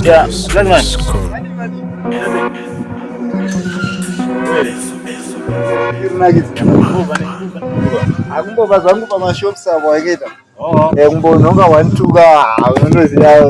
Yeah, black man. Akumboba zvangu pamashops avo akaita oh. eh, kumbonhonga one two ka unondoziva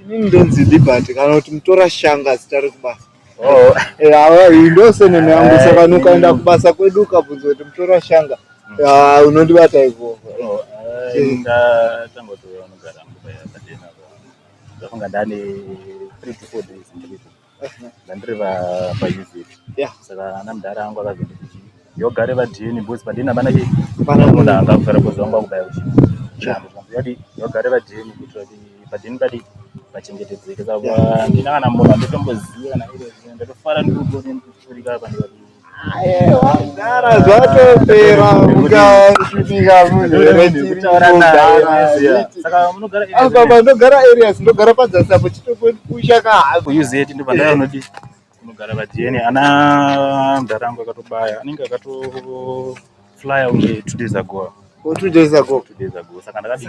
Inini ndonzi Liberty kana kuti mutora shanga zita rekubasa. Oh. Yawa eh, indose nene yangu saka nukaenda eh. kubasa kwedu ukabvunza kuti mutora shanga. Mm. Ya ah, unondibata iko. Oh, eh, inda tango to unogara mubaya tadena. Ndafunga ndani 3 to 4 days ndiripo. Ndandiri pa pa visit. Yeah. Saka ana mdara angu akazoti yogare va DNA boys pa DNA bana ke. Pana mona anga kufara boys wangu kubaya uchi. Chamba chamba yadi yogare va DNA kuti vadi pa DNA badi vachengetedzeke saka ndina kana mona ndotomboziva na ile ndotofara ndikuona ndikufurika apa ndikati Dara zvatopera mukasvika apa pandogara areas ndogara padzasi apo chitopusha kahako UZ ndipo pandaya unodii kunogara vajeni ana mdara angu akatobaya anenge akatoflya unge two days ago two days ago two days ago saka ndakadii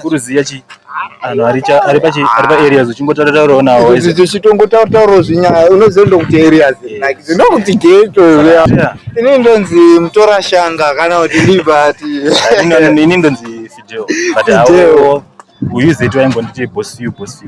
kuruziya chi anhu ari pachi ari paareas uchingotaura taurawo nawo tichitongotaura taurawo zvinyaya unoziva ndokuti areas like zvindokuti geto zviya ini ndonzi mutora shanga kana kuti liberty ini ndonzi fideo but awo uyu zeti waimbonditi boss you boss you